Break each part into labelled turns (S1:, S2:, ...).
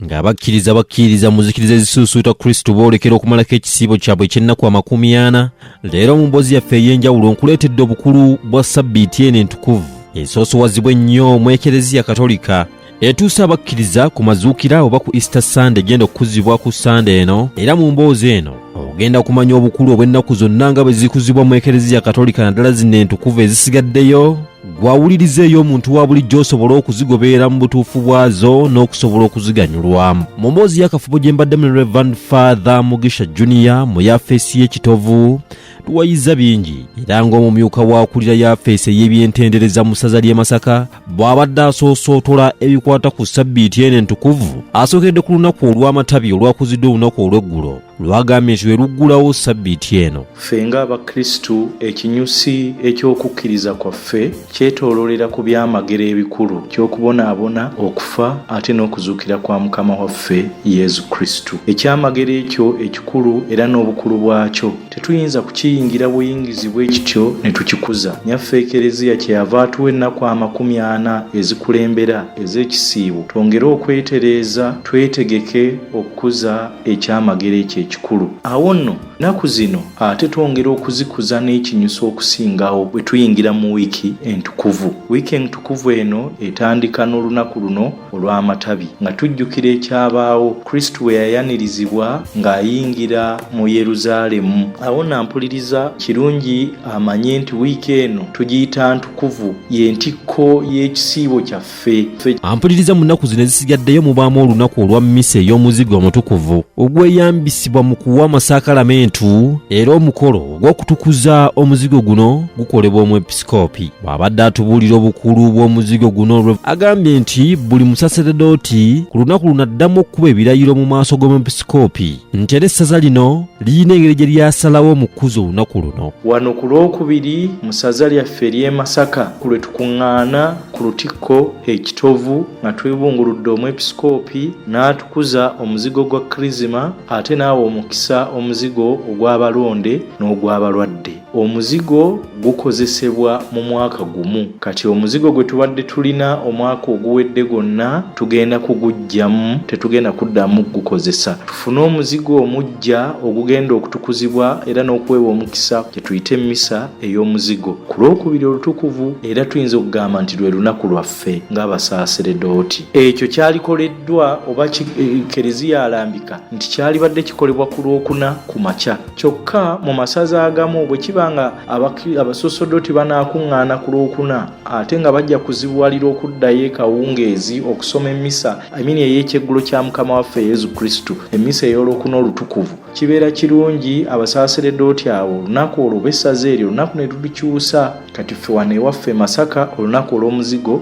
S1: ng'abakkiriza bakkiriza mu zikiriza ezisuusuuta kristo boolekera okumalako ekisiibo kyabwe eky'ennaku amakumi ana leero mu mboozi yaffe ey'enjawulo nkuleetedde obukulu bwa sabbiiti eno entukuvu esoosowazibwa ennyo mu ekereziya katolika etuusa abakkiriza ku mazuukira oba ku easter sande egenda okukuzibwa ku sande eno era mu mboozi eno ogenda kumanya obukulu obw'ennaku zonna nga bwe zikuzibwa mu ekereziya katolika naddala zino entukuvu ezisigaddeyo gwawuliriza ey'omuntu wa bulijjo osobole okuzigoberera mu butuufu bwazo n'okusobola okuziganyulwa mu mboozi y'akafubo gye mbaddemu ne revan father mugisha junior mu yafeesi y'ekitovu tuwayiza bingi era ng'omumyuka w'akulira yafeesi ey'ebyentendereza mu ssaza ly'e masaka bw'abadde asoosootola ebikwata ku ssabbiiti eno entukuvu asookedde ku lunaku olw'amatabi olwakuzidde olunaku olw'eggulo lwagambye nti weruggulawo sabbiiti eno ffe ng'abakristu
S2: ekinyusi eky'okukkiriza kwaffe kyetoololera ku byamagero ebikulu ky'okubonaabona okufa ate n'okuzuukira kwa mukama waffe yezu kristu ekyamagero ekyo ekikulu era n'obukulu bwakyo tetuyinza kukiyingira buyingizi bwe kityo ne tukikuza nyaffe ekereziya kyeyava atuwa ennaku amakumi ana ezikulembera ez'ekisiibo twongere okwetereeza twetegeke okukuza ekyamagero ekyo ekikulu awo nno nnaku zino ate twongera okuzikuza n'ekinyusa okusingawo bwe tuyingira mu wiiki entukuvu wiiki entukuvu eno etandika n'olunaku luno olw'amatabi nga tujjukira ekyabaawo kristo bwe yayanirizibwa ng'ayingira mu yeruzaalemu awo nampuliriza kirungi amanye nti wiiki eno tugiyita ntukuvu y'entikko y'ekisiibo kyaffe ampuliriza mu nnaku
S1: zino ezisigaddeyo mubaamu olunaku olwa mmisa ey'omuzigo omutukuvu ogweyambisibwa mu kuwa amasakalamentu era omukolo ogw'okutukuza omuzigo guno gukolebwa omwepisikoopi bw'abadde atubuulira obukulu bw'omuzigo guno agambye nti buli musaseredooti ku lunaku luno addamu okukuba ebirayiro mu maaso g'omwepisikoopi nti era essaza lino lirina engeri gye lyasalawo mu kukuza olunaku luno wano ku lwokubiri
S2: mu saza lyaffe ery'e masaka ku lwe tukuŋŋaana ku lutikko e Kitovu nga twebunguludde omwepisikoopi n'atukuza omuzigo gwa Kirizima ate n'awa omukisa omuzigo ogw'abalonde n'ogw'abalwadde. Omuzigo gukozesebwa mu mwaka gumu kati omuzigo gwe tubadde tulina omwaka oguwedde gwonna tugenda kuguggyamu tetugenda kuddamu kugukozesa tufune omuzigo omuggya ogugenda okutukuzibwa era n'okuweebwa omukisa gye tuyite mmisa ey'omuzigo ku lwokubiri olutukuvu era tuyinza okugamba nti lwe lunaku lwaffe ng'abasaaseredooti ekyo kyalikoleddwa oba eh, kereziya alambika nti kyalibadde kikolebwa ku lwokuna ku makya kyokka mu masaza agamu bwe kiba nga abasosodooti banaakuŋŋaana ku lwokuna ate nga bajja kuzibuwalira okuddayo ekawungeezi okusoma emmisa amini ey'ekyeggulo kya mukama waffe yesu kristo emmisa ey'olwokuna olutukuvu kibeera kirungi abasaasire dooti awo olunaku olwo bessaza eryo olunaku ne lulikyusa kati ffe wano ewaffe masaka olunaku olw'omuzigo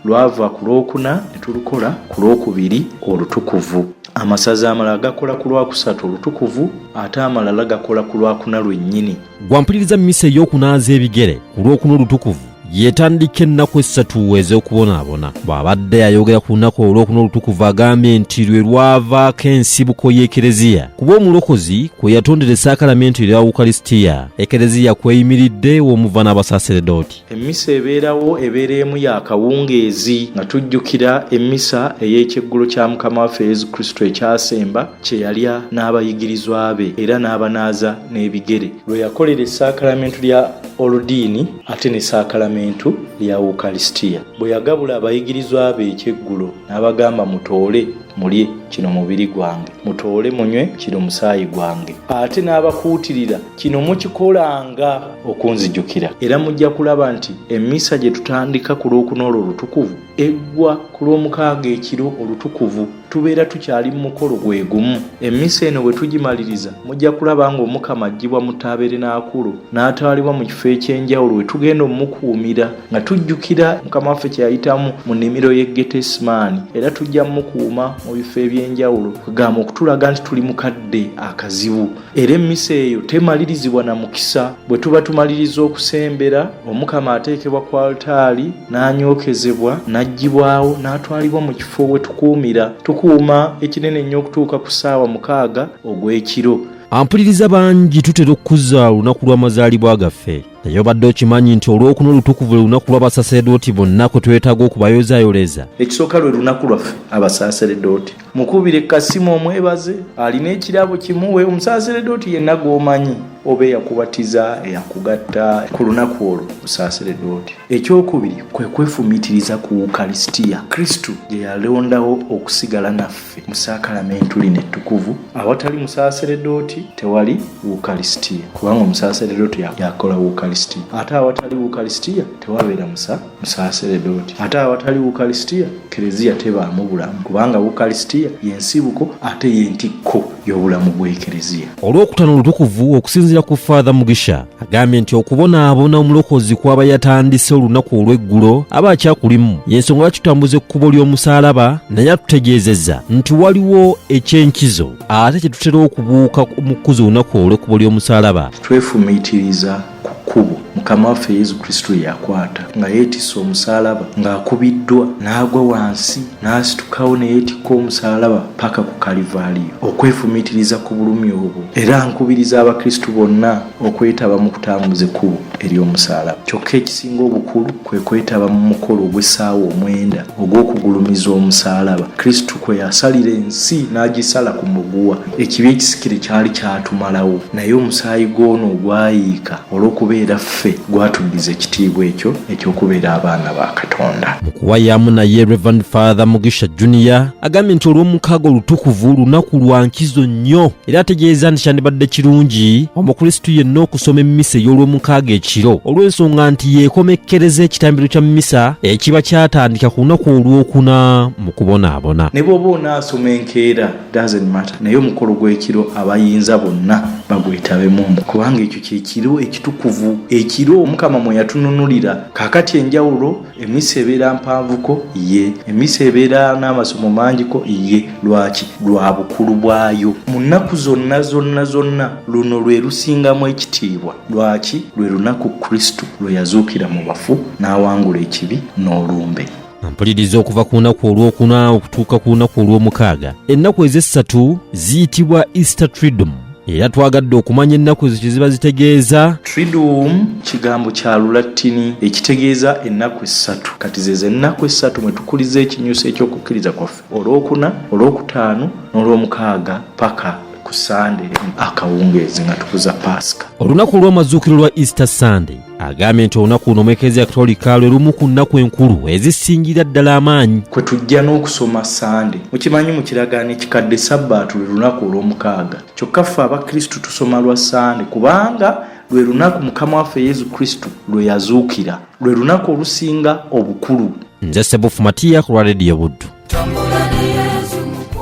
S2: lwava ku lwokuna ne tulukola ku lwokubiri olutukuvu amasaza amalala gakola ku lwakusatu olutukuvu ate amalala gakola ku lwakuna lwennyini gwampuliriza misa
S1: ey'okunaaza ebigere ku lw'okuna olutukuvu yetandika ennaku essatu ez'okubonaabona bw'abadde ayogera ku lunaku olw'okuna olutukuvu agambye nti lwe lwavaako ensibuko y'ekereziya kuba omulokozi kwe yatondera esaakalamentu erya wukalisitiya ekereziya kweyimiridde w'omuva n'abasaseredooti emmisa ebeerawo
S2: ebeera emu ya kawungeezi nga tujjukira emmisa ey'ekyeggulo kya mukama waffe yesu kristo ekyasemba kye yalya n'abayigirizwa be era n'abanaaza n'ebigere lwe yakolera esaakalamentu lya oludiini ate ne saakalamentu lya wukalisitiya bwe yagabula abayigirizwa be ekyeggulo n'abagamba mutoole mulye kino mubiri gwange mutoole munywe kino musaayi gwange ate n'abakuutirira kino mukikolanga okunzijukira era mujja kulaba nti emmisa gye tutandika ku lwokuna olwo olutukuvu eggwa ku lw'omukaaga ekiro olutukuvu tubeera tukyali mu mukolo gwe gumu emmisa eno bwe tugimaliriza mujja kulaba ng'omukama aggyibwa mu taaberenaakulu n'atwalibwa mu kifo eky'enjawulo we tugenda omukuumira nga tujjukira mukama waffe kye yayitamu mu nnimiro y'e getesimaani era tujja mukuuma mu bifo eby'enjawulo kugamba okutulaga nti tuli mu kadde akazibu era emmisa eyo temalirizibwa na mukisa bwe tuba tumaliriza okusembera omukama ateekebwa ku altaali n'anyookezebwa n'aggyibwawo n'atwalibwa mu kifo we tukuumira tukuuma ekinene ennyo okutuuka ku ssaawa mukaaga
S1: ogw'ekiro
S2: ampuliriza
S1: bangi tutera okukuza olunaku lw'amazaalibwa gaffe naye obadde okimanyi nti olwokuna olutukuvu lwe lunaku lw'abasaseredooti bonna kwe twetaaga okubayozayoleza ekisooka lwe lunaku
S2: lwaffe abasaseredooti mukubire kasimu omwebaze alina ekirabo kimuwe omusaasiredde oti yenna gwomanyi oba eyakubatiza eyakugatta ku lunaku olwo musaasiredde oti ekyokubiri kwe kwefumitiriza ku ukarisitiya kristu gye yalondawo okusigala naffe mu saakalamentu lino ettukuvu awatali musaasiredde oti tewali ukarisitiya kubanga omusaasiredde oti yakola ukarisitiya ate awatali ukarisitiya tewabeera musa musaasire dooti ate awatali wukalisitiya kereziya tebaamu bulamu kubanga wukalisitiya yensibuko ate yentikko y'obulamu bw'ekereziya olwokutano olutukuvu
S1: okusinziira ku faatha mugisha agambye nti okubonaabona omulokozi kwaba yatandise olunaku olw'eggulo aba akyakulimu yensonga lwaki tutambuza ekkubo ly'omusaalaba naye atutegeezezza nti waliwo eky'enkizo ate kye tutera okubuuka mu kkuza olunaku olw'ekkubo ly'omusaalaba twefumiitiriza
S2: ku kkubo mukama waffe yesu kristo lye yakwata nga yeetisse omusaalaba ng'akubiddwa n'agwa wansi n'asitukawo ne yeetikka omusaalaba paka ku kalivaaliyo okwefumiitiriza ku bulumi obwo era nkubiriza abakristu bonna okwetaba mu kutambuza ekkubo ery'omusaalaba kyokka ekisinga obukulu kwe kwetaba mu mukolo ogw'essaawa omwenda ogw'okugulumiza omusaalaba Kristo kwe yasalira ensi n'agisala ku muguwa. Ekibi ekisikire kyali kyatumalawo, naye omusaayi gw'ono ogwayiika olw'okubeera ffe gwatuddiza ekitiibwa ekyo eky'okubeera abaana ba Katonda. Mu kuwayaamu naye,
S1: Rev. Father Mugisha Junior agambye nti Olwomukaaga olutukuvu lunaku lwa nkizo nnyo era ategeeza nti kyandibadde kirungi omukrisitu yenna okusoma emmisa ey'olwomukaaga ekiro olw'ensonga nti yeekomekkereza ekitambiro kya mmisa ekiba kyatandika ku lunaku olwokuna mu kubonaabona ne bw'oba onaasoma
S2: enkeera dazenmata naye omukolo gw'ekiro abayinza bonna bagwetabemu kubanga ekyo kyekiro ekitukuvu ekiro omukama mwe yatununulira kaakati enjawulo Emisa ebeera mpanvuko ye emisa ebeera n'amasomo mangiko ye lwaki lwa bukulu bwayo mu nnaku zonna zonna zonna luno lwe lusingamu ekitiibwa lwaki lwe lunaku kristo lwe yazuukira mu bafu n'awangula ekibi n'olumbe mpuliriza okuva
S1: ku lunaku olwokuna okutuuka ku lunaku olw'omukaaga ennaku ez'essatu ziyitibwa easter tridom era twagadde okumanya ennaku ziki ziba zitegeeza triduum
S2: kigambo kya lulattini ekitegeeza ennaku essatu kati zezo ennaku essatu mwe tukuliza ekinyusi ekyokukkiriza kwaffe olwokuna olwokutaano n'olwomukaaga paka ku sande akawungeezi nga tukuza paasika olunaku olw'amazuukiro lwa easter
S1: sunday agambye nti olunaku luno mwekereziya katolika lwe lumu ku nnaku enkulu ezisingira ddala amaanyi kwe tujja n'okusoma
S2: sande mukimanyi mu kiragaano ekikadde sabbaatu lwe lunaku olw'omukaaga kyokka ffe abakristu tusoma lwa sande kubanga lwe lunaku mukama waffe yesu kristu lwe yazuukira lwe lunaku
S1: olusinga obukulu nze
S2: sebufu
S1: matiya
S2: ku lwa
S1: rediyo buddu